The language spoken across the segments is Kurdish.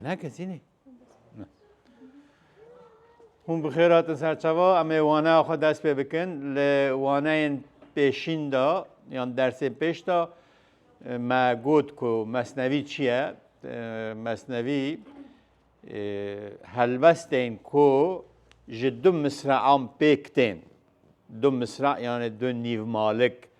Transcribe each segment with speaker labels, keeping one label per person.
Speaker 1: Ne kesî ne. Hûn bi xêr hatin ser çava em ê waneya xwe dest pê bikin li waneyên pêşîn de yan dersên pêş de me got ku mesnevî çi ye mesnevî helbestên ku ji du misrean pêk tên du misra yanê du nîv malik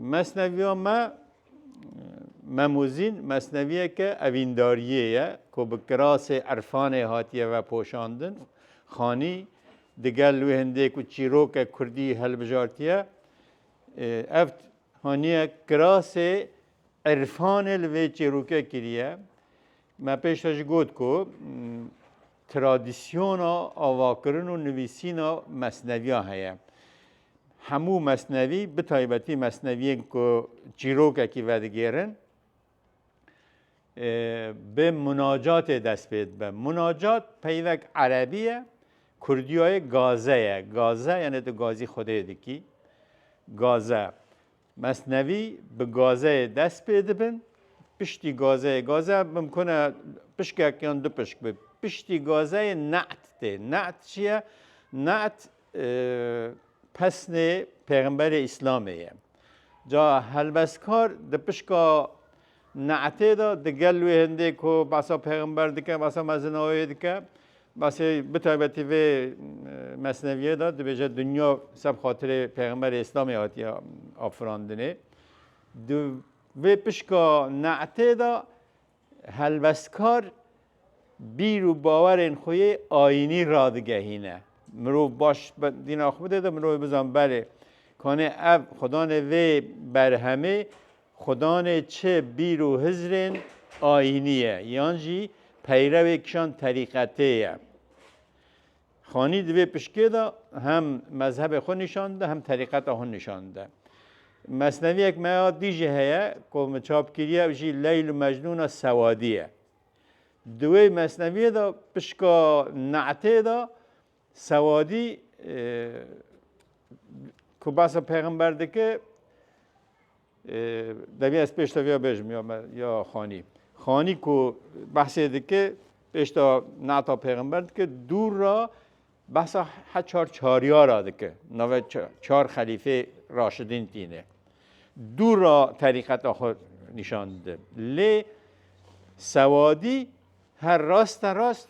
Speaker 1: Mesneviya me Memûzîn mesneviyeke evîndariyê ye ku bi kirasê irfanê hatiye vepoşandin. Xanî digel wê hindê ku çîroke kurdî hilbijartiye. Ev haniye kirasê irfanê li vê çîroke kiriye. Me pêşve jî got ku Tradisyona avakirin û nivîsîna mesneviyan heye. Hemû mesnevî bi taybetî mesneviyên ku çîrokekî vedigêrin bi munacatê dest pê dibe. Munacat peyvek erebî ye, kurdiyayê gaze ye. Gaze yanê tu gazî xwedê dikî. Gaze. Mesnevî bi gazeyê dest pê dibin, piştî gazeyê gaze bimkune pişkek yan du pişk bi. Piştî gazeyê ne'd tê. Ne'd çi ye? Ne'd pesnê Pêxemberê Îslamê ye. Ca helbestkar di pişka Ne'tê de di gel wê hindê ku behsa pêxember dike, behsa mezinayê dike, behsê bi taybetî vê mesneviyê de dibêje dinya ser bi xatirê pêxemberê îslamê hatiye afirandinê. Di vê pişka ne'tê de helwestkar bîr û bawerên xwe yê ayînî radigehîne. Mirov baş dîna xwe bide de mirovê bizan belê kanê ev xwedanê vê berhemê Xudanê çi bîr û hizrên ayînî ye yan jî peyrewê kîjan terîqetê ye. Xanî di vê pişkê de hem mezhebê xwe nîşan dide hem terîqeta xwe nîşan dide. Mesneviyek me ya dî jî heye ku min çap kiriye ew jî Leyl û Mecnûna Sewadî ye. Di wê mesneviyê de pişka ne'tê de Sewadî ku basa pêxember dike deviya ez pêşta viya bêjim ya me ya xanî. Xanî ku behsê dike pêşta nata pêxember dike dûr ra behsa he çar çariyara dike. Nave çar xelîfê raşidîn tîne. Dûr ra terîqeta xwe nîşan dide. Lê sewadî her rast rast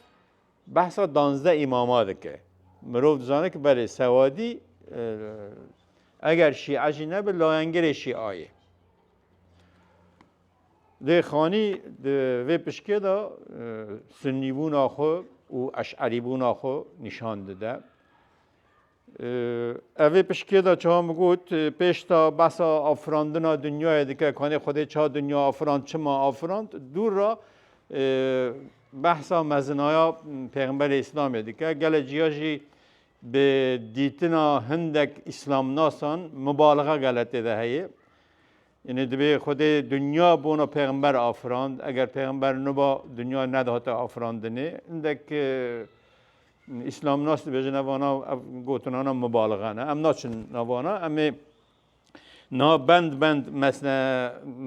Speaker 1: Behsa danzdeh îmama dike. Mirov dizane ki belê sewadî eger şîe jî nebe layengirê şîa ye. Lê Xanî di vê pişkê de sunnîbûna xwe û eş'erîbûna xwe nîşan dide. Evê piştgê de çawa min got, pêş ta behsa afirandina dinyayê dike, kanê Xwedê ça dinya afirand, çima afirand, dûr ra behsa mezinaya Pêxemberê Îslamê dike. Gele ciya jî bi dîtina hindek îslamnasan mubalixa gele tê de heye. Yanî divê Xwedê dinya bona pêxember afirand. Eger pêxember niba dinya nedihate afirandinê. Hindek îslamnas dibêjin evana ev gotinana mibalixe ne. Em naçin navana em ê na bend bend mesne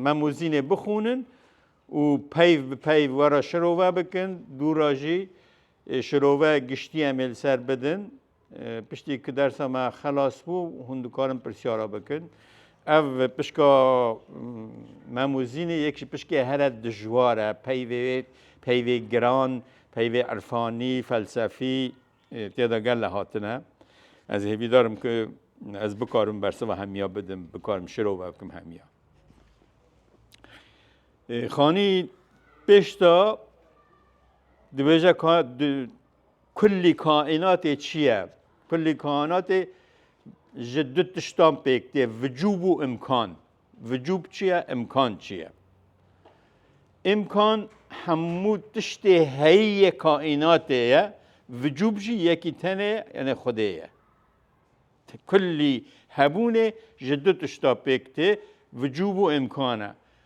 Speaker 1: memozînê bixûnin û peyv bi peyv were şirove bikin dûra jî şirove giştî em ê li ser bidin. Piştî ku dersa me xelas bû hûn dikarin pirsyara bikin. Ev pişka mem û zînê yek ji pişkê here dijwar e peyvê peyvê giran, peyvê irfanî, felsefî tê de gel hatine. Ez hêvîdarim ku ez bikarim bersiva hemiya bidim, bikarim şirova bikim hemiya. Xanî pêşta dibêje Kulî kaînatê çi ye? Kulî kaînatê ji du tiştan pêk tê, vicûb û îmkan. Vicûb çi ye, îmkan çi ye? Îmkan hemû tiştê heyî yê kaînatê ye, vicûb jî yekî tenê ye, yanê Xwedê ye. Kulî hebûnê ji du tişta pêk tê, vicûb û îmkan e.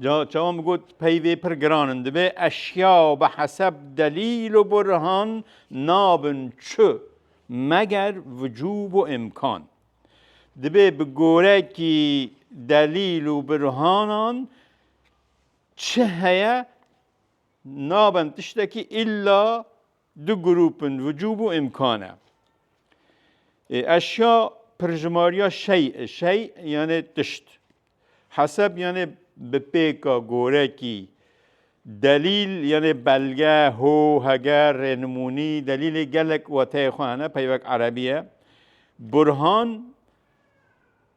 Speaker 1: Ca çawan bi got peyvê pir giran in divê eşya bi heseb delîl û burhan nabin çi meger vicûb û îmkan. Divê bi gorekî delîl û burhanan çi heye nabin tiştekî îlla Du grûpin vicû bû îmkan e. Ê eşya pirjimariya şey e, şey yanê tişt. Heseb yanê bi pêka, gorekî, delîl yanê belge, ho, heger, rênimûnî, delîlê gelek wateyê xwe hene, peyvek erebî ye. Burhan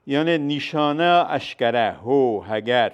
Speaker 1: yanê nîşaneya eşkere, ho, heger.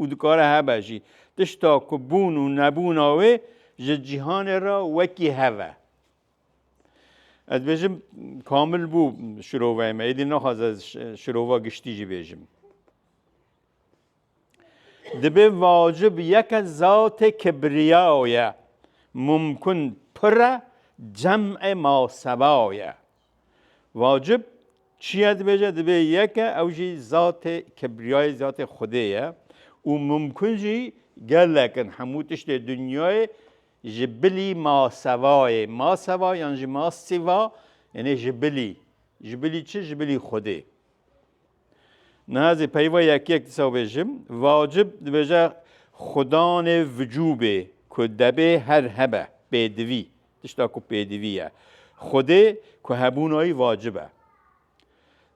Speaker 1: Û dikare hebe jî. Tişta ku bûn û nebûna wê ji cîhanê re wekî hev e. Ez bêjim kamil bû şiroveyê me. Êdî naxwaz ez şirova giştî jî bêjim. Dibê vacib yeke zatê kibriyaye, mumkun pire cem'ê masebaye. Vacib çiye dibêje dibê yeke ew jî zatê kibriyayê zatê Xwedê ye û mumkun jî gelek in hemû tiştê dinyayê ji bilî masevayê maseva yan jî masiva yanê ji bilî ji bilî çi ji bilî Xwedê. Niha zî peyva yekiyek dîsa bêjim, vacib dibêje xudanê vicûbê ku debê her hebe, pêdivî, tişta ku pêdivî ye. Xwedê ku hebûnayî vacib e.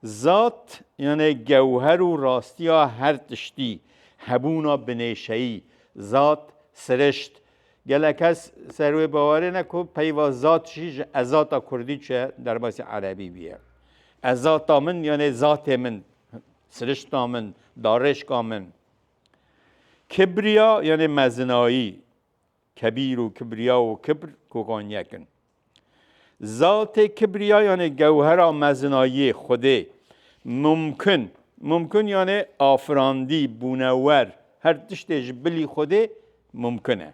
Speaker 1: Zat yanê gewher û rastiya her tiştî, hebûna binêşeyî, zat, sirişt. Gelek kes ser wê bawerê ne ku peyva zat jî ji ezata kurdî çûye derbasî erebî bûye. Ez zata min yanê zatê min, sirişta min, darêşka min. Kibriya yanê mezinayî, kebîr û kibriya û kibr kokan yek in. Zatê kibriya yanê gewhera mezinayî, Xwedê, mumkin, mumkin yanê afirandî, bûnewer, her tiştê ji bilî Xwedê mumkin e.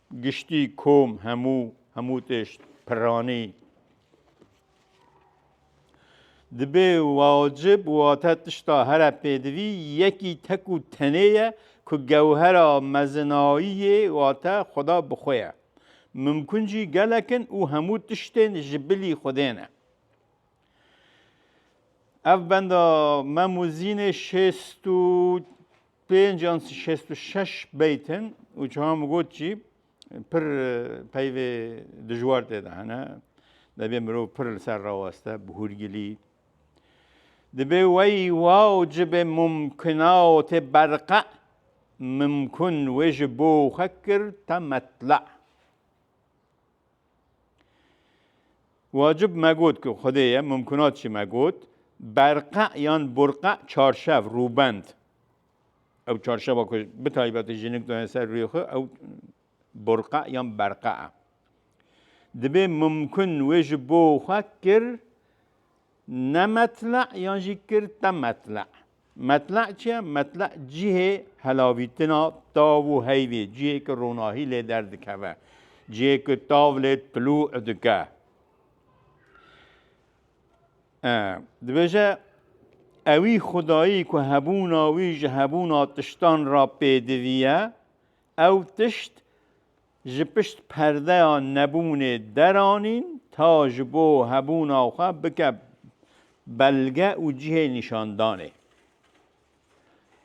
Speaker 1: Giştî, kom, hemû, hemû tişt, piranî. Dibe wacib wate tişta here pêdivî yekî tek û tenê ye ku gewhera mezinayiyê wate Xweda bi xwe ye. Mimkun jî gelek in û hemû tiştên ji bilî Xwedê ne. Ev benda Memuzînê şêst û Pênc yan şêst û şeş beyt in û çawa min got jî pir peyvê dijwar tê de hene. Debê mirov pir li ser raweste bi hûrgilî. Dibê wey wa û cibê mumkina û tê berqe mumkun wê ji bo xwe kir te metla. Wacib me got ku Xwedê ye, mumkunat jî me got, berqe yan burqe çarşev, rûbend. Ew çarşeva ku bi taybetî jinik dayê ser rûyê xwe ew burqe yan berqe e. Dibê mumkin wê ji bo xwe kir Ne metle'e yan jî kir te metle'e. Metle'e çi ye? Metle'e cihê helavîtina tav û heyvê, cihê ke ronahî lê derdikeve, cihê ke tav lê tilû dike. Dibêje ewî xwedayî ku hebûna wî ji hebûna tiştan ra pêdivî ye, ew tişt, Ji pişt perdeya nebûnê deranîn ta ji bo hebûna xwe bike belge û cihê nîşandanê.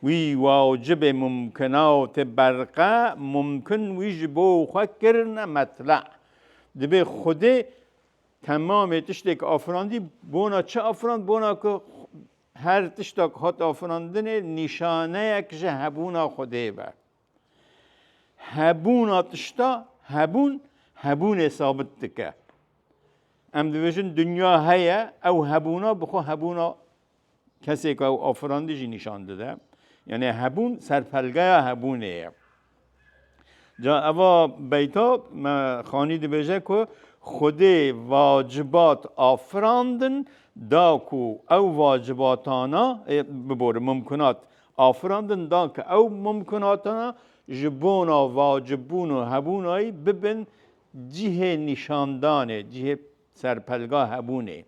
Speaker 1: Wî wacibê mumkinatê berqe mumkin wî ji bo xwe kirine metla. Dibê Xwedê temamê tiştêk afirandî bona çi afirand bona ku her tişta ku hat afirandinê nîşaneyek ji hebûna Xwedê be. Hebûna tişta hebûn hebûnê sabit dike. Em dibêjin dinya heye ew hebûna bi xwe hebûna kesêka ew afirandî jî nîşan dide. Yanê hebûn serpelgeya hebûnê ye. Ca eva beyta me xanî dibêje ku Xwedê vacibat afirandin da ku ew vacibatana e, biborim mumkinat Afirandin da ke ew mumkunatana ji bona vacibûn û hebûnayî bibin cihê nîşandanê, cihê serpelga hebûnê.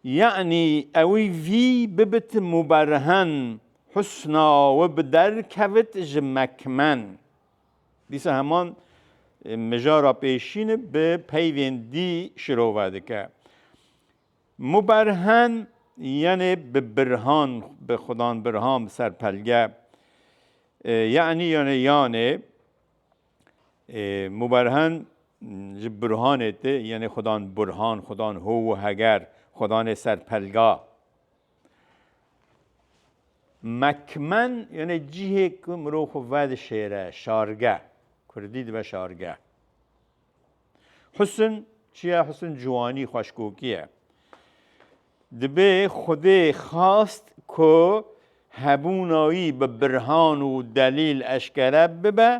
Speaker 1: Yanî ewî vî bibit muberhen, husna wi bi derkevit ji mekmen. Dîsa heman mijara pêşîn bi peyvên dî şirove dike. Muberhen yenê bi birhan bi xudan birhan bi ser pelge yenî yenê yanê muberhen ji burhanê ti yenê xudan burhan xudan ho û heger xudanê ser pelga. Mekmen yenê cihê ku mirov xwe vedişêre şarge kurdî dibe şarge. Husn çiye? Husn ciwanî, xweşkokî ye. Dibê Xwedê xast ku hebûna wî bi birhan û delîl eşkere bibe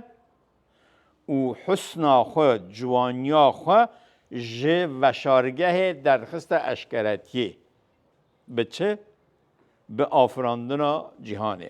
Speaker 1: û husna xwe, ciwaniya xwe ji veşargehê derxiste eşkeretiyê. Bi çi? Bi afirandina cîhanê.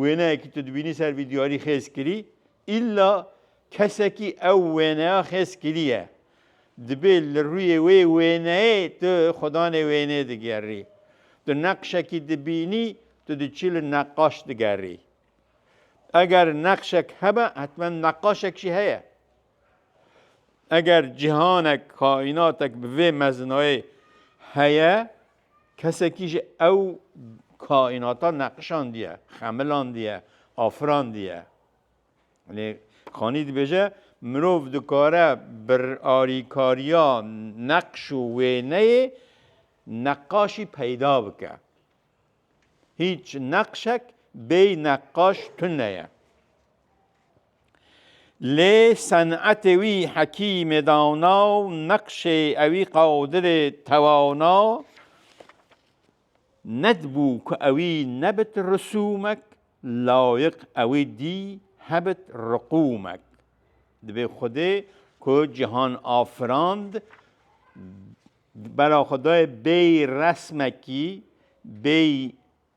Speaker 1: Wêneyekî tu dibînî ser vî diyarî xêz kirî, îlla kesekî ew wêneya xêz kiriye. Dibê li rûyê wê wêneyê tu xwedanê wêneyê digerî. Tu neqşekî dibînî, tu diçî li neqaş digerî. Eger neqşek hebe, hetmen neqaşek jî heye. Eger cîhanek, kaînatek bi vê mezinayê heye, Kesekî ji ew kaînata neqişandiye, xemilandiye, afirandiye. Lê Xanî dibêje mirov dikare bi arîkariya neqş û wêneyê neqaşî peyda bike. Hîç neqşek bêy neqaş tune ye. Lê senetê wî hekîmê dawna û neqşê ewî Qadirê tewawna nedibû ku ewî nebit risûmek, layiq ewî dî hebit riqûmek. Divê Xwedê ku cihan afirand bera xwe dayê bêyî resmekî, bêyî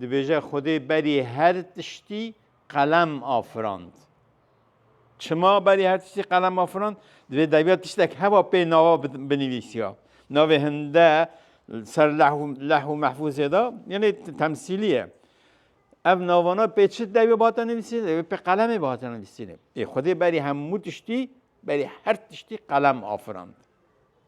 Speaker 1: Dibêje Xwedê berî her tiştî qelem afirand. Çima berî her tiştî qelem afirand? Divê daybîya tiştek heba pê nava binivîsiya. Navê hinde ser leh û mehfûzê de yenê temsîlî ye. Ev navana pê çi dewê bate nivîsîne? Dewê pê qelemê bate nivîsîne. Ê Xwedê berî hemû tiştî, berî her tiştî qelem afirand.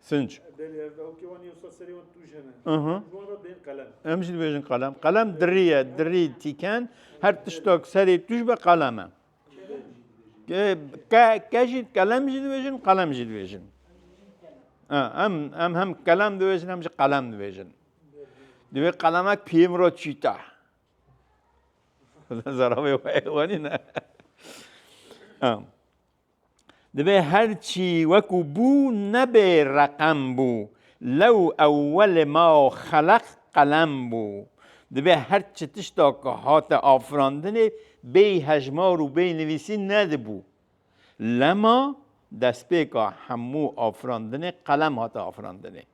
Speaker 2: Sinc. Em jî dibêjin qelem.
Speaker 1: Qelem dirî ye, dirî tîken her tiştak serê tu ji be qelem e. Ke ke jî kelem jî dibêjin, qelem jî dibêjin. Em em hem kelem dibêjin hem jî qelem dibêjin. Divê qelemek piyê min re çîta. Zarabê wanî ne. Divê her çî wekû bû nebê reqem bû, lew ewwelê ma xeleq qelem bû. Divê her çi tişta ku hate afirandinê bêy hejmar û bêy nivîsîn nedibû. Lema destpêka hemû afirandinê qelem hate afirandinê.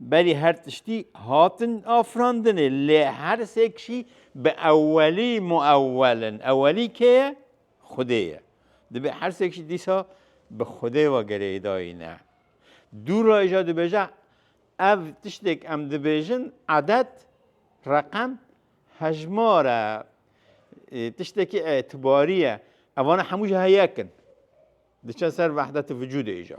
Speaker 1: Belê her tiştî hatin afirandinê lê her sêk jî bi ewelî muewel in. Ewelî kê ye? Xwedê ye. Divê her sêk jî dîsa bi Xwedê ve girêdayî ne. Dû re îja dibêje ev tiştêk em dibêjin edet, reqem, hejmar e, tiştekî îtibarî ye. Evan hemû jî heyek in. Diçin ser vehdetî vicûdê îja.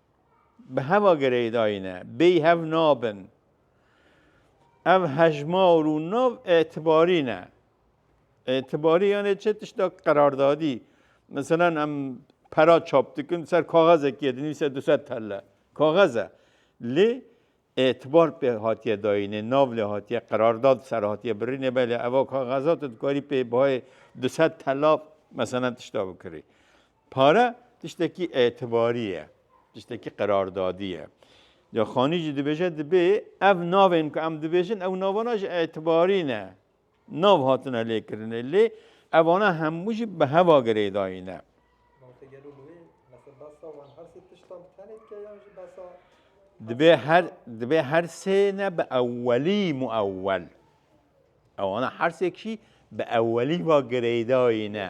Speaker 1: Bi heva girêdayîne bêyî hev nabin. Ev hejmar û nav îtibarî ne. Îtibarî yanê çi? Tişta qerardadî. Miselan em pera çap dikin ser kaxezekê dinivîse du sed telle. Kaxez e. Lê Etibar pê hatiye dayînê, nav lê hatiye, qerardad li ser hatiye birînê belê eva kaxeza tu dikarî pê bayê du sed telaf meselen tişta bikirî. Pare tiştekî etibarî ye, tiştekî qerardadî ye. Ca Xanî jî dibêje dibê ev navên ku em dibêjin ew navana jî etibarî ne. Nav hatine lêkirinê lê evane hemû jî bi heva girêdayî ne.
Speaker 3: Dibê her
Speaker 1: dibê her sê ne bi ewwelî muewwel. Ewana her sêk jî bi ewwelî va girêdayî ne.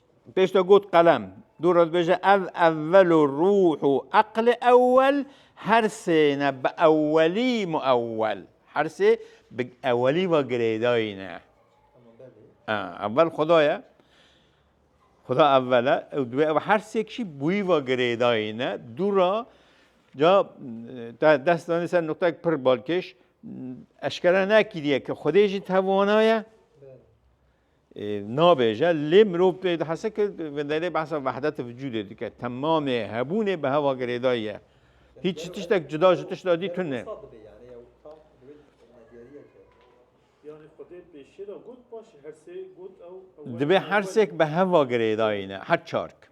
Speaker 1: Pêş de got qelem. Dû re dibêje ev ewwel û rûh û eqlê ewwel her sê ne bi ewwelî muewwel. Her sê bi ewwelî ve girêdayî ne. Ewwel Xuda ye. Xuda ewwel e û divê ew her sêk jî bi wî ve girêdayî ne. Dû re ca te dest danî ser nuqtek pir balkêş eşkere nekiriye ke Xwedê jî tevana ye. nabêje lê mirov pê dihese ke venderê behsa vehdetê vücudê dike. Temamê hebûnê bi heva girêdayî ye. Hîç tiştek cuda ji tişta dî tune.
Speaker 2: Divê hersêk bi
Speaker 1: heva girêdayî ne her çark.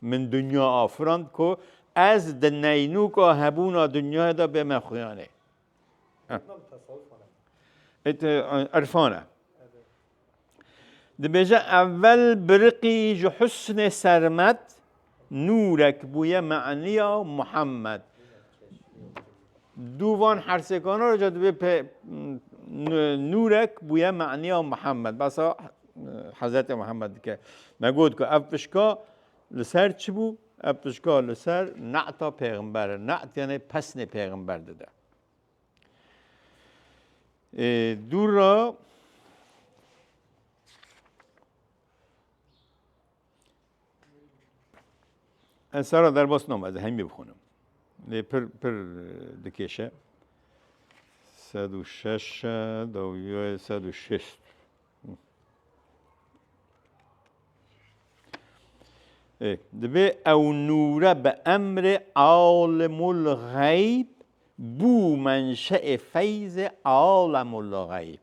Speaker 1: Min dinya afirand ku ez di neynûka hebûna dinyayê de bê me xuyanê. Irfan e. Dibêje evel biriqî ji husnê sermet nûrek bûye meniya Muhammed. Dû van hersêkana re ca divê nûrek bûye maniya Mihemed basa Hezretê Mihemed dike. Me got ku ev pişka li ser çi bû? Ev pişka li ser neta pêximber e. Net yanê pesnê pêximber dide. Dûr ra Ez sara derbas nam ez hemî bixonim. Lê pir pir dikêşe. Sed û şeş dawiye sed û şêst. Divê ew nûre bi emrê alimul xeyb bû menşeê feyzê alimul xeyb.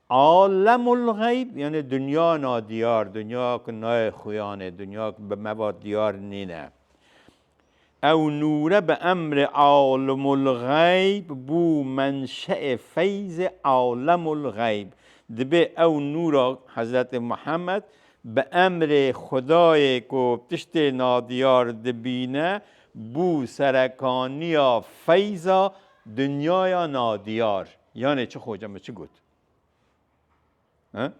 Speaker 1: Alemulgeyb yanî dinya nadiyar, dinya ku nayê xuyan e, dinya ku bi me ve diyar nîne. Ew nûre bi emrê alimulgeyb bû menşeê feyzê alemulgeyb. Dibê ew nûra, Hezretê Muhammed, bi emrê Xwedayê ku tiştê nadiyar dibîne, bû serekaniya feyza dinyaya nadiyar. Yanê çi xoca min çi got? He?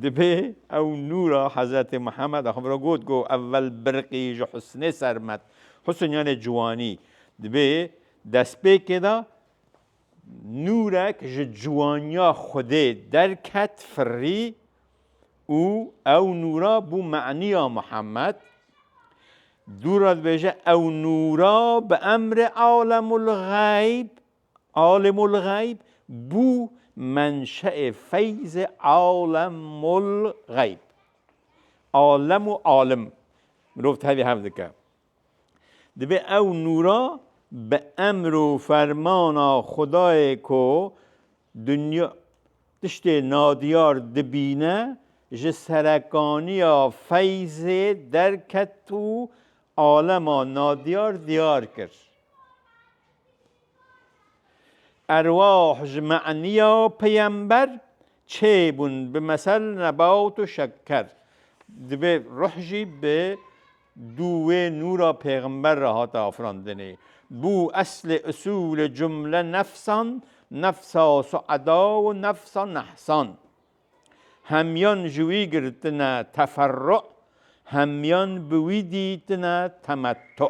Speaker 1: Dibê ew nûra Hezretê Muhammed xwe bira got go evvel birqî ji husnê sermet. Husn yanê ciwanî. Dibê destpêkê de nûrek ji ciwaniya Xwedê derket firî û ew nûra bû menîya Muhammed. Dûra dibêje ew nûra bi emrê alemulxeyb alimulxeyb bû menşeê feyzê alemulxeyb. Alem û alim mirov tevî hev dike. Divê ew nûra bi emr û fermana Xwedayê ku dinya tiştê nadiyar dibîne, ji serekaniya feyzê derket û alema nadiyar diyar kir. Erwah ji me'niya peyember çêbûn bi mesel nebat û şeker. Divê ruh jî bi Du wê nûra pêxember re hate afirandinê. Bû eslê usûlê cumle nefsan, nefsa sueda û nefsa nehsan. Hemiyan ji wî girtine teferru, hemiyan bi wî dîtine temettu.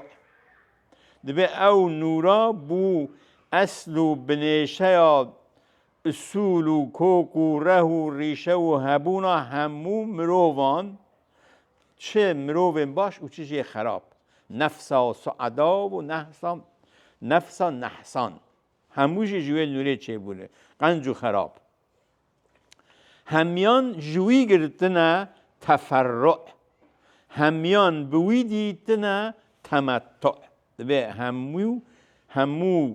Speaker 1: Divê ew nûra bû esl û binêşeya usûl û kok û reh û rîşe û hebûna hemû mirovan Çi mirovên baş û çi jî xerab. Nefsa sueda û nehsa nefsa nehsan. Hemû jî ji wê nûrê çêbûne. Qenc û xerab. Hemiyan ji wî girtine teferru. Hemiyan bi wî dîtine temettu. Divê hemû hemû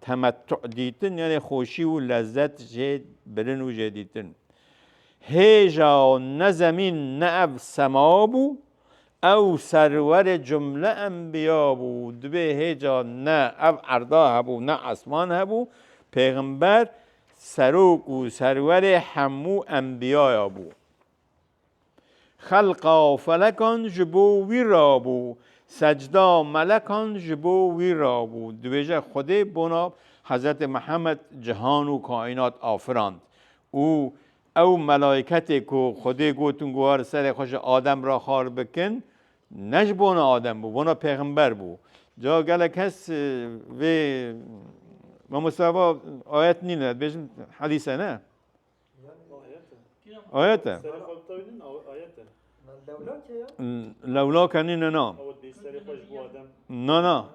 Speaker 1: Temettu dîtin yanê xweşî û lezzet jê birin û jê dîtin. Hêja ne zemîn ne ev sema bû, ew serwerê cumle enbiya bû, divê hêja ne ev erda hebû ne esman hebû, pêxember, serok û serwerê hemû enbiyaya bû. Xelqa felekan ji bo wî re bû, secda melekan ji bo wî re bû. Dibêje Xwedê bona Hezretê Mihemed cihan û kaînat afirand û ew melaîketê ku Xwedê gotin ku war serê xwe ji Adem re xal bikin ne ji bona Adem bû, bona pêxember bû. Ca gelek kes vê mamoste va ayet nîne, dibêjin hedîse ne. Ayet e.
Speaker 3: Lewla kenî ne na.
Speaker 2: Na na.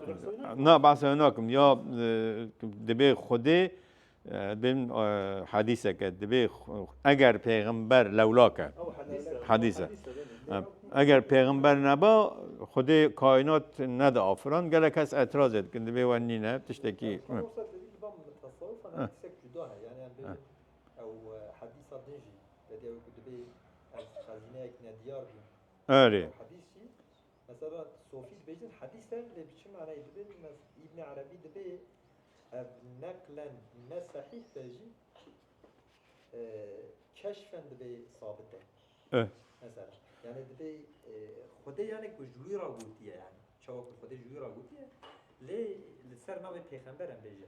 Speaker 1: Na bahsa nakim ya dibê xwedê bin hadîseke dibê eger pêxember lewla ke hadîse. Eger pêxember neba xwedê kainat nedi afiran gelek kes etiraz ê dikin dibê we nîne tiştekî.
Speaker 3: Ew hedîsa din jî vediya wê ku dibê ez xezîneyek nediyar bûm. Erê. Ew hedîs
Speaker 1: jî
Speaker 3: mesela sofî dibêjin hedîs e lê bi çi manayê dibê Îbnî Erebî dibê ev neqlen ne sehîh be jî keşfen dibê sabit e.
Speaker 1: Mesela
Speaker 3: yani dibê xwedê yani ku ji wî re gotiye yani çawa ku xwedê ji wî re gotiye lê li ser navê pêxember em bêje.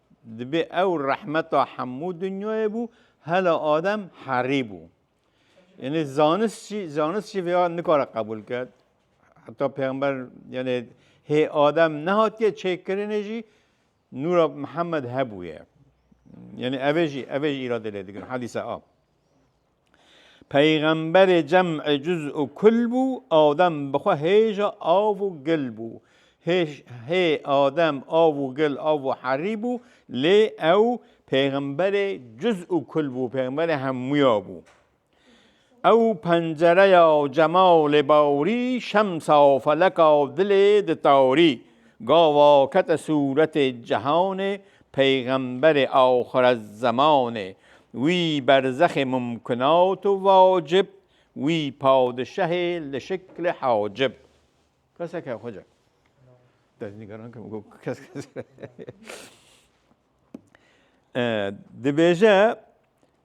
Speaker 1: Dibê ew rehmeta hemû dinyayê bû, hela Adem herî bû. Yanî zanist jî zanist jî vêya nikare qebûl ke. Heta pêxember yanê hê Adem nehatiye çêkirinê jî nûra Mihemed hebûye. Yanî evê jî evê jî îradê lê dikin hadîse a. Peyxemberê cem'ê cuz û kul bû, Adem bi xwe hêja av û gil bû. Hêj hê Adem av û gil av û herî bû, lê ew peyxemberê cuz û kul bû, peyxemberê hemûya bû. Ew pencereya cemalê bawrî, şemsa feleka dilê ditarî. Gava kete sûretê cihanê, peyxemberê axirezzemanê, wî berzexê mumkinat û vacib, wî padişahê li şiklê hacib. Kesek e xweca. Destnîgeran kim got kes kes. Dibêje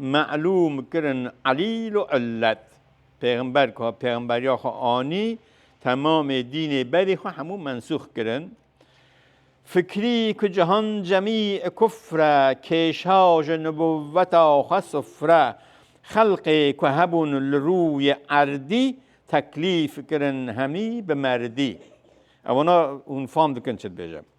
Speaker 1: Melûm kirin Elîl û Ilet, pêxember ku pêxemberiya xwe anî, temamê dînê berî xwe hemû mensûx kirin. Fikrî ku cihan cemî ê kufr e, kêşa ji nibûveta xwe sifr e. Xelqê ku hebûn li rûyê erdî, teklîf kirin hemî bi merdî. Ew wina hûn fam dikin çi dibêjim.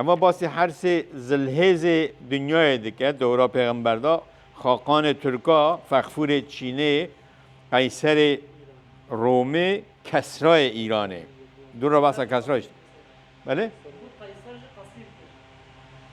Speaker 1: Eva basî her sê zilhêzê dinyayê dike, dewra pêxemberda, xaqanê tirka, fexfûrê çînê, qeyserê romê, kesrayê îranê. Dûr re behsa kesra jî. Belê? Sergût qeyser jî qesîr kir.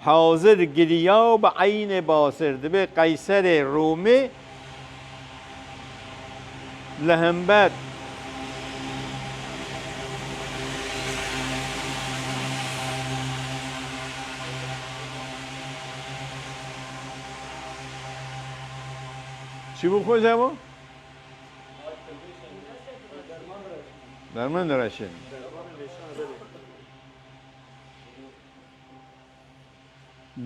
Speaker 1: Hazir giriya û bi eynê basir dibê qeyserê Romê li hember Çi bû xweza bo? Derman direşin.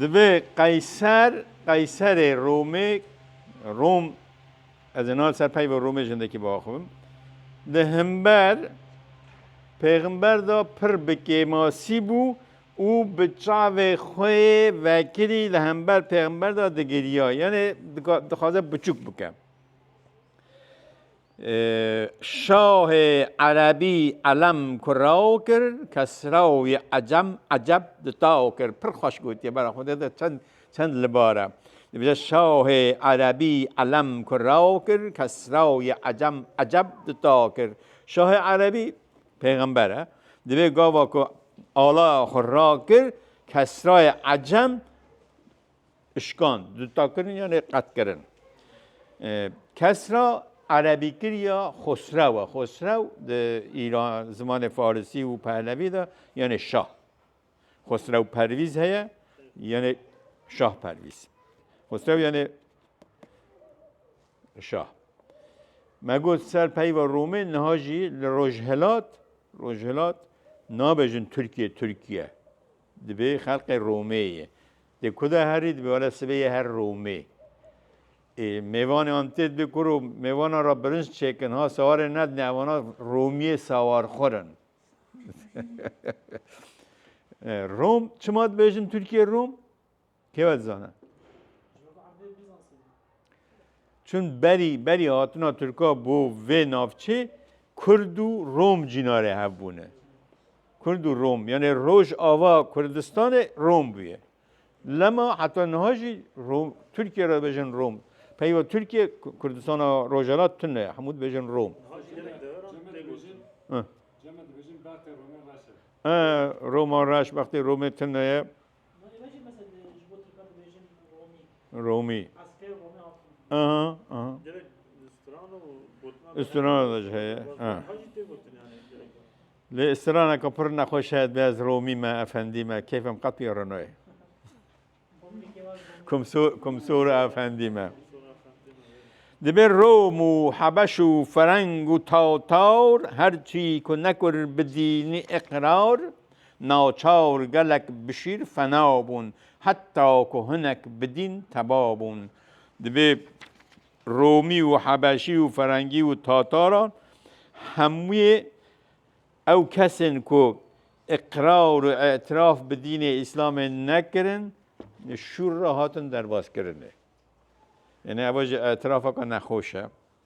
Speaker 1: Divê qeyser qeyserê Romê Rom ez ê niha ser peyva Romê jindekî bi axivim di himber pêximber de pir bi kêmasî bû û bi çavê xwe yê vekirî li hember pêximber de digiriya yanê dixwaze biçûk bike. Şahê Erebî Elem ku raw kir, Kesraw yê Ecem Eceb di taw kir. Pir xweş gotiye bera xwedê de çend çend li bar e. Dibêje Şahê Erebî Elem ku raw kir, Kesraw yê Ecem Eceb di taw kir. Şahê Erebî pêxember e. Divê gava ku alaya xwe rakir, Kesrayê Ecem ışkan, dutakirin yanê qetkirin. Kesra Erebî kiriya Xosrew e. Xosrew di îran zimanê Farisî û Pehlevî de yanê şah. Xosrew Pervîz heye yanê şah Pervîz. Xosrew yanê şah. Me got ser peyva Romê niha jî li Rojhilat Rojhilat nabejin Tirkiye Tirkiye. Dibê xelqê Romê yê. Dê ku de herî dibê wele sibê yê her Romê. Ê mêvanê antê dibê ku ro mêvanan ra birinc çêkin ha sawarê nedine ewana Romiyê sawarxur in. Rom çima dibêjin Tirkiyê Rom? Kê we dizane? Çün berî berî hatina Tirka bo vê navçê Kurd û Rom cînarê hev bûne. Kurd û Rom yanê roj ava Kurdistanê Rom bûye. Lema heta niha jî Rom Tirkiye re bêjin Rom. Peyva Tirkiye Kurdistana Rojhelat tune hemû dibêjin Rom. Roma reş bextê Romê tune ye. Romî. Aha, aha. Strana da jî heye. Lê straneka pir nexweş heye dibê ez Romî me, efendî me, keyfem qet pê re nayê. Kumsor efendî me. Dibê Rom û Hebeş û Fereng û Tawtawr her çî ku nekir bi dînî iqrar Naçar gelek bi şîr fena bûn. Heta ku hinek bi dîn teba bûn. Divê Romî û Hebeşî û Ferengî û Tataran hemûyê ew kesên ku îqrar û îtiraf bi dînê Îslamê nekirin li şûr re hatin derbaskirinê. Yanî ev jî îtirafeke nexweş e.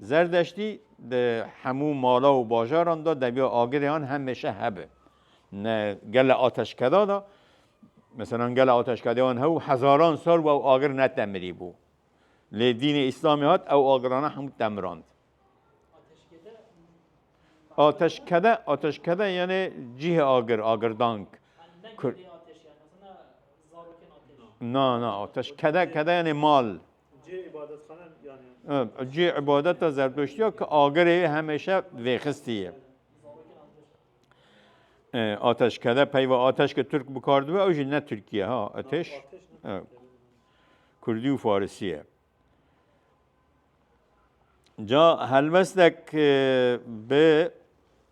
Speaker 1: Zerdeştî di hemû mala û bajaran de deviya agirê an hemeşe hebe. Ne gele ateşkeda de meselan gele ateşkedê an hew hezaran sal wew agir netemirî bû. Lê dînê îslamê hat ew agirana hemû temirand. Ateşkede ateşkede yani cihê agir agirdank.
Speaker 4: Na na ateşkede
Speaker 1: kede yani mal.
Speaker 2: Cihê îbadetxane yanî ya. Cihê îbadeta zerdoştî
Speaker 1: ya ki agirê wê hemêşe vêxistî ye. Ateşkede peyva ateş ki Tirk bikar dibe ew jî ne Tirkî ye ha ateş. Kurdî û Farisî ye. Ca helwestek bi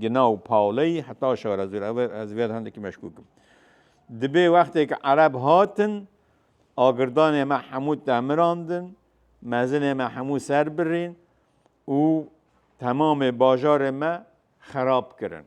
Speaker 1: Gina û Pauley heta şar ez ez vê hindekî meşkûk im. Dibê wextê ke ereb hatin agirdanê me hemû demirandin, mezinê me hemû ser birîn û temamê bajarê me xerab kirin.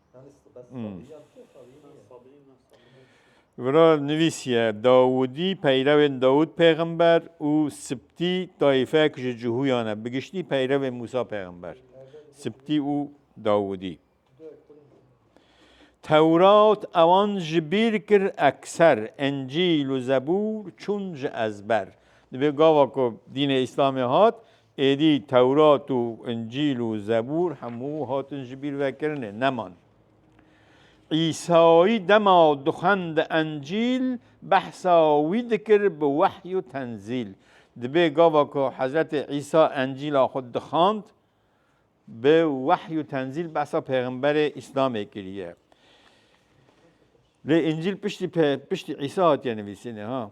Speaker 2: Wira nivîsiye,
Speaker 1: Dawûdî peyrewên Dawûd pêxember û Sibtî tayîfek ji Cihûyan e, bi giştî peyrevên Mûsa pêxember, Sibtî û Dawûdî. Tewrat ewan ji bîr kir, ekser Encîl û Zebûr çûn ji ezber. Divê gava ku dînê Îslamê hat, Êdî Tewrat û Încîl û Zebûr hemû hatin ji bîr vekirinê, neman. Îsayî dema dixwendi Encîl, behsa wî dikir bi wehy û tenzîl. Dibê gava ku Hezretê Îsa Encîla xwe dixwend, bi wehy û tenzîl behsa pêxemberê Îslamê kiriye. Lê Încîl piştî piştî Îsa hatiye nivîsîne ha.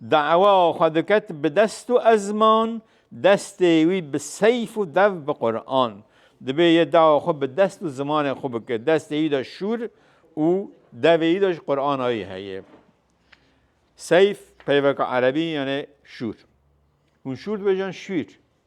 Speaker 1: Dawa xwe diket bi dest û ezman, destê wî bi seyf û dev bi Quran. Dibê yê dawa xwe bi dest û zimanê xwe bike. Destê wî de şûr û devê wî de jî Qurana wî heye. Seyf peyveke erebî yanê şûr. Hûn şûr dibêjin şûîr.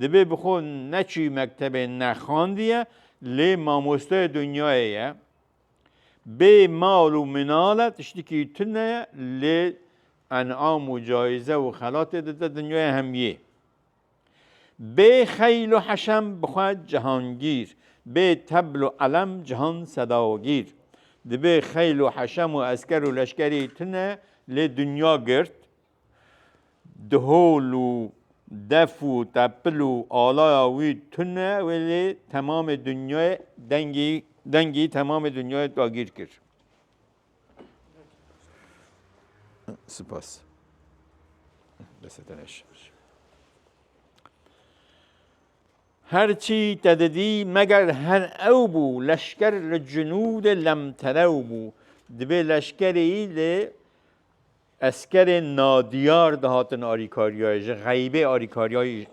Speaker 1: Divê bi xwe neçî mektebê nexandiye lê mamosteyê dinyayê ye. Bê mal û minal e tiştikî tune ye lê enam û cayîze û xelatê dide dinyayê hemiyê. Bê xeyl û heşem bi xwe cihangîr, bê tebl û elem cihan sedagîr. Divê xeyl û heşem û esker û leşkerî tune lê dinya girt. Di hol û def û tepil û alaya wî tune wê lê temamê dinyayê dengî dengî temamê dinyayê dagîr kir. Spas. Deseteneş. Her çî te didî meger her ew bû leşker li cinûdê lemterew bû. Divê leşkerî li Eskerên nadiyar dihatin arîkariyayê, ji xeybê arîkariyayê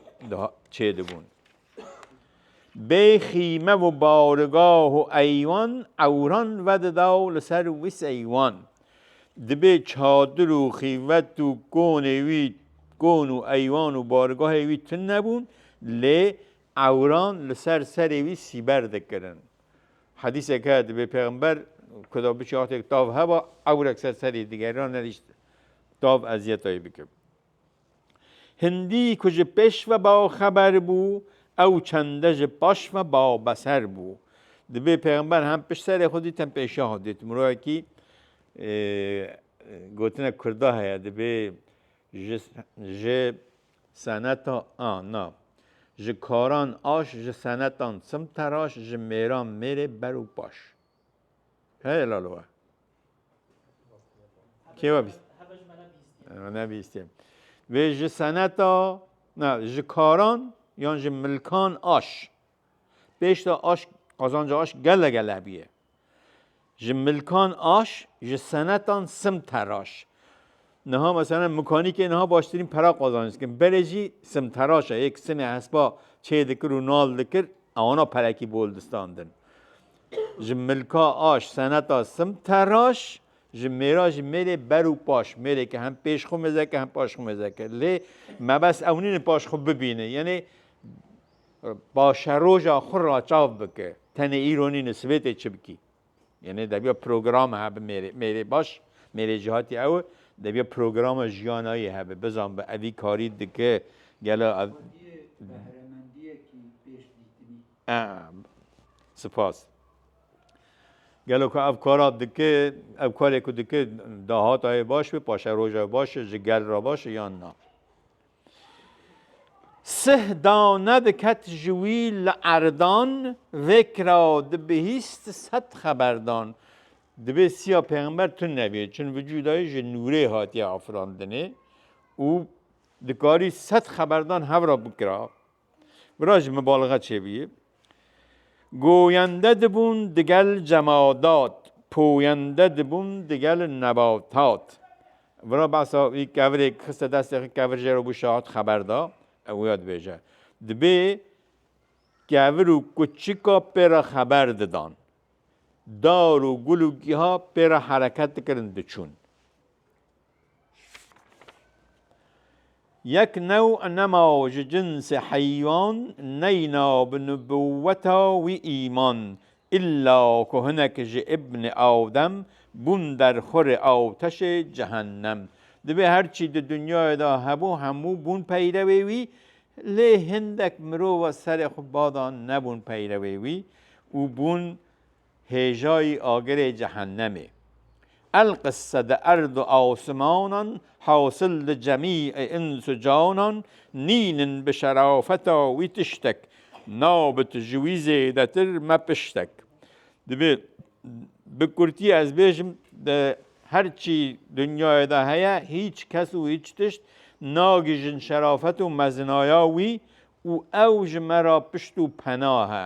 Speaker 1: çêdibûn. Bê xîme û barigah û eywan ewran vedida û li ser wî seywan. Dibê çadir û xîvet û konê wî kon û eywan û barigahê wî tune bûn lê ewran li ser serê wî sîber dikirin. Hadîsek heye divê pêxember ku da biçe hatêk tav heba ewrek ser serî digerina nerîşt tav eziyetayê bikim. Hindî ku ji pêş ve ba xeber bû ew çende ji paş ve ba beser bû. Divê pêxember hem pişt serê xwe dît hem pêşiya xwe dît. Mirovekî gotinek kurda heye divê ji Seneta a na ji karan aş ji senetan çim teraş ji mêran mêrê ber û paş. Heye lalo we. Kê we bîst?
Speaker 4: Me nebîstiye.
Speaker 1: Vê ji seneta na ji karan yan ji milkan aş. Pêşta aş qazanca aş gele gele bûye. Ji milkan aş, ji senetan sim teraş. Niha mesela mekanîkê niha baştirîn pera qazanc dikin. Berê jî sim teraş e, yek simê hespa çê dikir û nal dikir, ewana perekî bol distandin. Ji milka aş, seneta sim teraş, ji mêra jî mêrê ber û paş, mêrê ke hem pêş xwe mêzeke hem paş xwe mêzeke. Lê mebes ew nîne paş xwe bibîne. Yenê Paşeroja xwe raçav bike. Tenê îro nîne sibêtê çi bikî. Yenê debiya program hebe mêrê mêrê baş mêrê ji hatî ew debiya programa jiyana yê hebe bizan bi evî karî dike gelo ev
Speaker 5: Spas.
Speaker 1: Gelo ku ev kara dike ev karê ku dike dahata yê baş bê paşeroja baş ji gel re baş yan na. Sih dane diket ji wî li eridan vekira di bihîst sed xeberdan. Divê siya pêxember tund nebî çun vücuda yê ji nûrê hatiye afirandinê û dikarî sed xeberdan hevra bikira Bira ji mibalixe çêbûye. Goyende dibûn digel cemadat, poyende dibûn digel nebatat. Bira behsa wî kevirê xiste destê xwe kevir jê re bû şahat xeber da, ew wê ya dibêje. Dibê kevir û kuçika pê re xeber didan. Dar û gul û giha pê re hereket dikirin diçûn. Yek new nema ji cinsê heywan neyna bi nubûweta wî îman, îlla ku hinek ji îbnê Adem bûn derxurê ateşê cehennem. Divê her çî di dinyayê de hebû hemû bûn peyrewê wî, lê hindek mirov serê xwe bada nebûn peyrewê wî û bûn hêjayî agirê cehennemê. Elqisse di erd û asimanan hasil di cemî ê îns û canan nînin bi şerafeta wî tiştek, nabit ji wî zêdetir me piştek. Divê bi kurtî ez bêjim di her çî dinyayê de heye hîç kes û hîç tişt nagihîjin şerafet û mezinaya wî û ew ji me re pişt û pena he.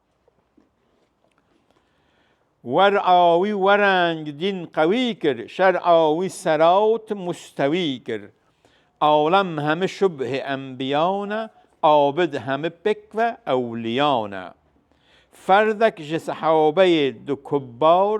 Speaker 1: Wer a wî wereng dîn qewî kir, şer a wî serawt mustewî kir. Alem hemi şubhê enbiyan e, abid hemi pêk ve ewliyan e. Ferdek ji sehabeyê du kubbar,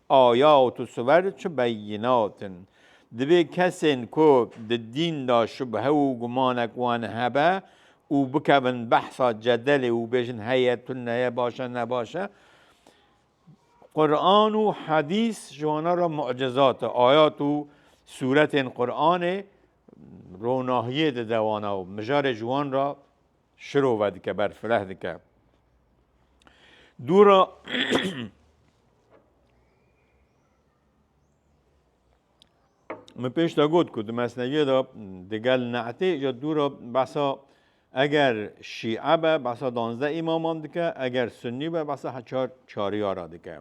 Speaker 1: Ayat û suwer çi beyînat in? Divê kesên ku di dîn de şubhe û gumanek wan hebe û bikevin behsa cedelê û bêjin heye tune ye baş e nebaş e, Quran û hedîs ji wana re mucizat e. Ayat û sûretên Quranê ronahiyê dide wana û mijarê ji wan re şiro vedike ber fireh dike. Dûra Min pêş de got ku di mesneviyê de digel ne'tê ja dûra behsa eger şîe be behsa danzde îmaman dike eger sunnî be behsa heçar çariyara dike.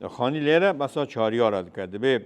Speaker 1: Xanî lêre behsa çariyara dike dibê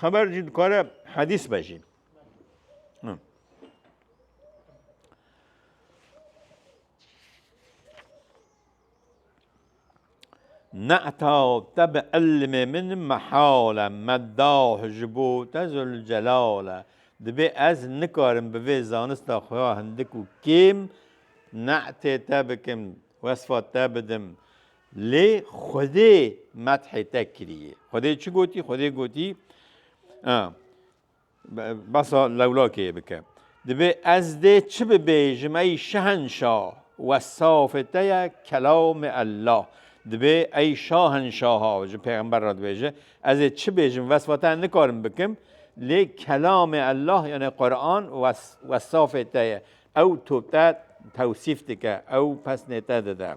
Speaker 1: Xeber jî dikare hedîs be jî. Ne'ta te bi ilmê min mehale me dawh ji bo te Zülcelale. Dibê ez nikarim bi vê zanista xwe ya hindik û kêm ne'tê te bikim, wesfa te bidim. Lê Xwedê methê te kiriye. Xwedê çi gotî? Xwedê gotî basa lewlakê bike. Dibê ez dê çi bibêjim ey şehenşa wesafê te ye kelamê Ellah. Dibê ey şahenşaha ji pêxember re dibêje ez ê çi bêjim vesfa te nikarim bikim lê kelamê Ellah yanê Quran wesafê te ye. Ew to te tewsîf dike, ew pesnê te dide.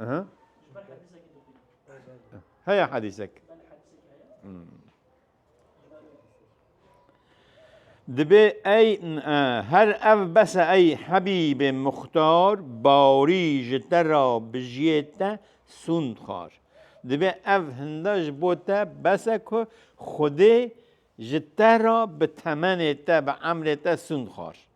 Speaker 1: Aha. Haya hadisek. Hmm. Dibe ey her ev bese ey Habibe Muhtar bari ji te ra bijiyê te sund xar. Dibe ev hinda ji bo te bese ku Xwedê ji te ra bi temenê te bi emrê te sund xar.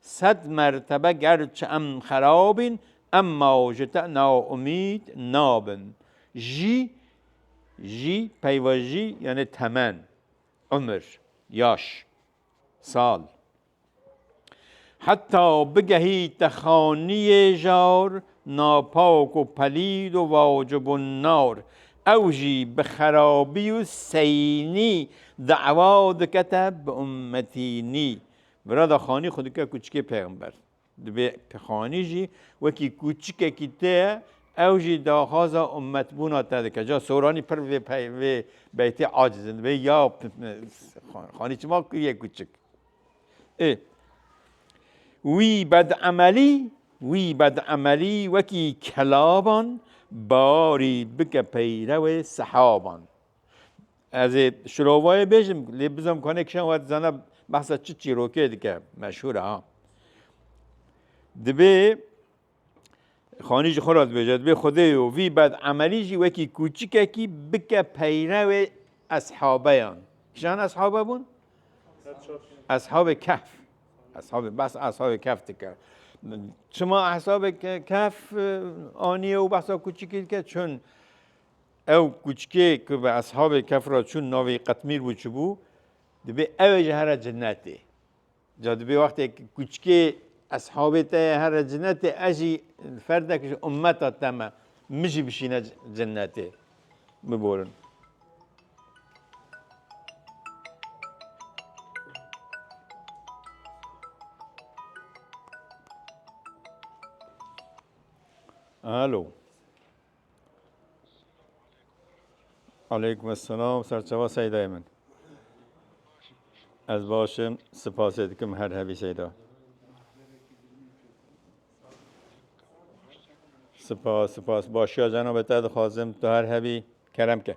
Speaker 1: Sed mertebe gerçi em xerab in emma ji te naumîd nabin. Jî jî peyva jî yanê temen, umir, yaş, sal. Heta bigehî te xaniyê jar, napak û pelîd û vacibûn nar. Ew jî bi xerabî û seynî dawa dike te bi ummetînî. Mirada Xanî xwe dike kûçikê pêxember. Divê Xanî jî wekî kûçikekî tê ye, ew jî daxwaza ummetbûna te dike. Ca Soranî pir vê vê beytê aciz in. Divê ya Xanî çima kiriye kûçik. Ê wî bedemelî wî bedemelî wekî kelaban barî bike peyrewê sehaban. Ez ê şirovayê bêjim lê bizom ku hinek kişan wet zana behsa çi çîrokê dike meşhûr ha. Dibê xanî ji xwe re dibêje dibê xwedê û vî bed emelî jî wekî kûçikekî bike peyrevê eshabeyan. Kişan eshabe bûn? Eshabê kehf. Eshabê bes eshabê kehf dike. Çima eshabê kehf aniye û behsa kûçikî dike çun Ew kuçkê ku bi eshabê kef re çûn navê Qetmîr bû çi bû? Dibê ew ê ji here cinetê. Ca dibê wextê ku kuçkê eshabê te ye here cinetê ez jî ferdek ji ummeta te me min jî bişîne cinetê. Biborin. Alo. Aleykum selam serçava Seydayê min. Ez baş im, sipasê dikim her hebî Seyda. Sipas, sipas. Başiya cenabê te dixwazim tu her hebî kerem ke.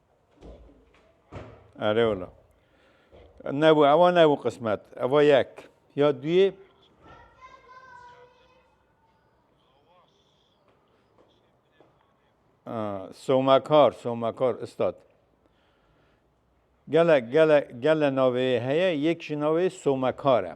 Speaker 1: Erê ola. Nebû ewa nebû qismet. Ewa yek. Ya duyê Somakar, Somakar Üstad. Gele gele gele navê heye yek ji navê Somakar e.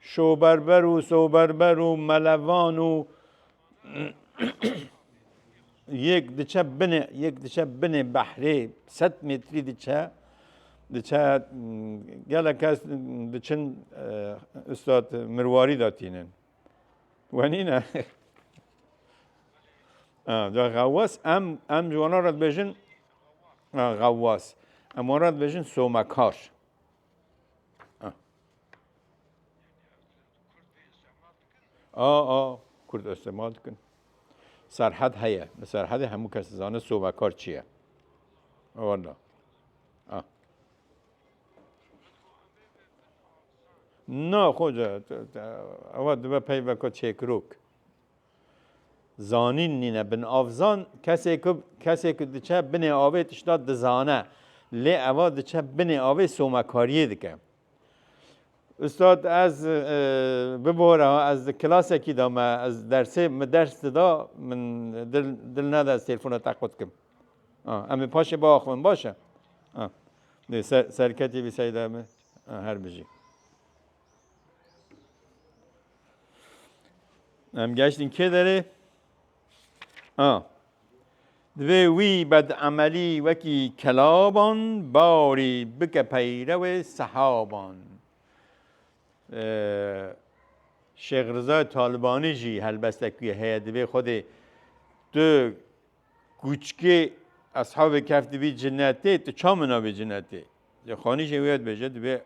Speaker 1: Şoberber û soberber û melevan û yek diçe binê yek diçe binê behrê sed metrî diçe diçe gele kes diçin Üstad Mirwarî da tînin. Wenîne da xewas em em ji wana re dibêjin xewas. Em wana dibêjin somekar. A a Kurd istemal dikin. Serhed heye. Li serhedê hemû kes dizane sobekar çi ye. Wala. Na xoca ewa dibe peyveka çêkirok. Zanîn nîne binavzan, kesê ku kesê ku diçe binê avê tişta dizane. Lê eva diçe binê avê somekariyê dike. Ustad ez bibora ez di kilasekî de me ez dersê min ders dida min dil dil neda ez têlfona te qut kim. Em ê paşê biaxivin baş e. Dê ser serketî bî seyda min. Her bijî. Em geçtin kê derê? A. Divê wî bedemelî wekî kelaban barî bike peyrewê sehaban. Şêx Rıza Talibanî jî helbestekî heye divê Xwedê tu Kûçikê Eshabê Kehf dibî cinetê, tu ça min nabî cinetê? Lê xanîşê wê ya dibêje, dibê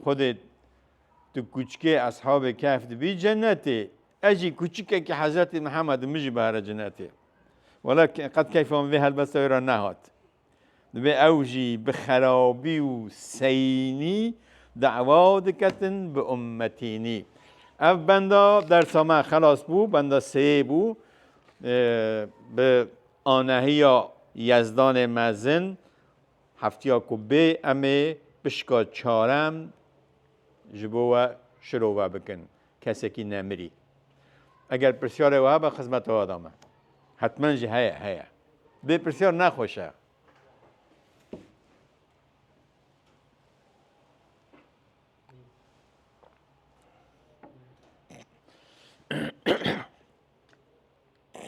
Speaker 1: Xwedê tu kûçikê Eshabê Kehf dibî cenetê. Ez jî kûçikekî Hezretî Mihemed im, min jî bihere cinetê. Wela qet keyfa min vê helbesta wê re nehat. Divê ew jî bi xerabî û seyînî dewa diketin bi ummetînî. Ev benda dersa me xelas bû, benda seyê bû. Bi anehiya Yezdanê mezin heftiya ku bê em ê pişka çarem ji bo we şirove bikin. kesekî ne mirî. Eger pirsyarê wiha be xizmeta we dame. Hetmen jî heye, heye. Vê pirsyar ne xweş e.